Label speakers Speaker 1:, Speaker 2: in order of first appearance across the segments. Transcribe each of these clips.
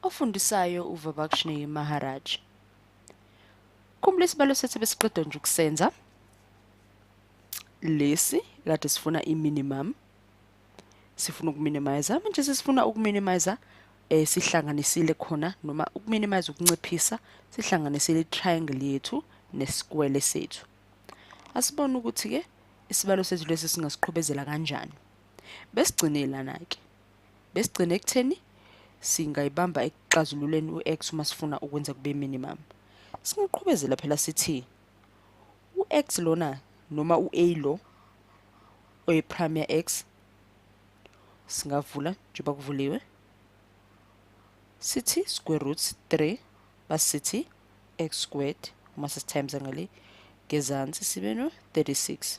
Speaker 1: ofundisayo uVabakshni Maharaj. Khumbula isibalo sethu besiqeda nje ukusenza lesi kade sifuna i-minimum sifuna ukuminimize manje sesifuna ukuminimize eh sihlanganisile khona noma ukuminimize ukunciphisa sihlanganisile i-triangle yethu nesikwele sethu asibone ukuthi ke isibalo sethu lesi singasiqhubezela kanjani besigcine lana ke besigcine ekutheni singayibamba ekuxazululeni u-x uma sifuna ukwenza kube minimum singaqhubezela phela sithi u-x lona noma u-a lo oyi-prime ya-x singavula njengoba kuvuliwe sithi square root 3 basithi x squared uma sesitimes ngale ngezansi sibe no 36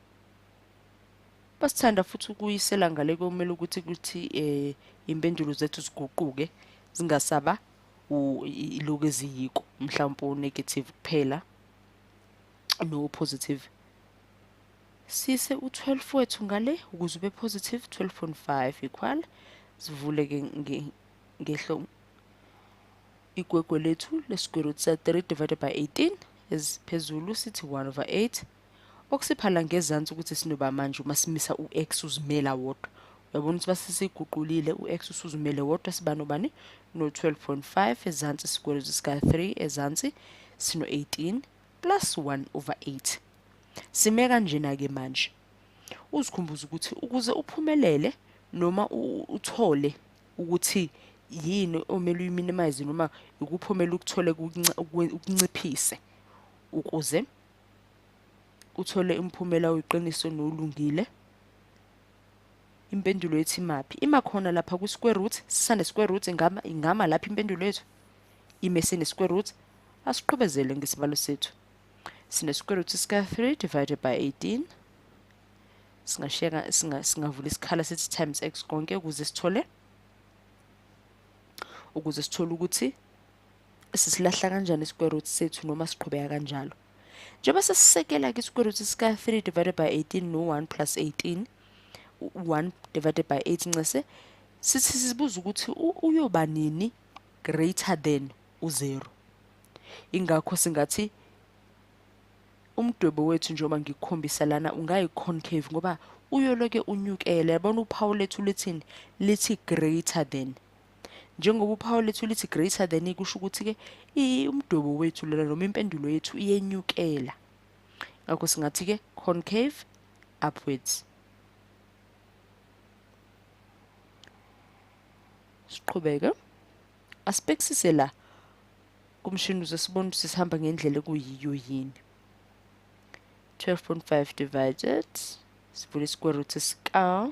Speaker 1: Basithanda futhi ukuyisela ngale komele ukuthi kuthi eh impendulo zethu ziguquke zingasaba iloku eziyiko mhlawumbe unegative kuphela no positive sise u12 wethu ngale ukuze ube positive 12.5 equal sivule ke ngehlo igwegwe lethu lesquare root sa 3 divided by 18 esiphezulu sithi 1 over 8 Okusiphala ngezansi ukuthi sinoba manje uma simisa u-X uzimela wodwa. Uyabona ukuthi basesiguqulile u-X usuzimele wodwa siba nobani no-12.5 ezansi sikwelo sika-3 ezansi sino-18 plus 1 over 8. Sime kanjena-ke manje. Uzikhumbuze ukuthi ukuze uphumelele noma uthole ukuthi yini omele uyiminimize noma ikuphi omele ukuthole ukunciphise ukuze uthole umphumela oyiqiniso nolungile impendulo yethu imaphi ima khona lapha kwi-square root sisane square root ingama ingama lapha impendulo yethu ime sine square root asiqhubezele ngesibalo sethu sine square root sika 3 divided by 18 singasheka singa singavula isikhala sithi times x konke ukuze sithole ukuze sithole ukuthi sisilahla kanjani i-square root sethu noma siqhubeka kanjalo njengoba sesisekela-ke i-square root sika-3 divided by 18 no-1 plus 18 1 divided by 8 ncese sithi sibuza ukuthi uyoba nini greater than u-0 ingakho singathi umdwebo wethu njengoba ngikukhombisa lana ungayi-concave ngoba uyoloke unyukele yabona uphawu lethu lithini lithi greater than njengoba uphawu lethu lithi greater than kusho ukuthi-ke umdwebo wethu lona noma impendulo yethu iyenyukela ngakho singathi-ke concave upwards siqhubeke asibhekisise la kumshini uze sibone ukuthi sihamba ngendlela ekuyiyo yini 12.5 divided sivule isikwere root sika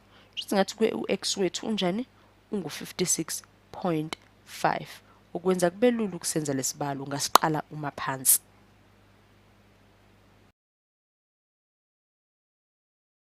Speaker 1: shuthi ngathi kwe u-x wethu unjani ungu-56.5 okwenza kube lula ukusenza lesibalo ungasiqala uma phansi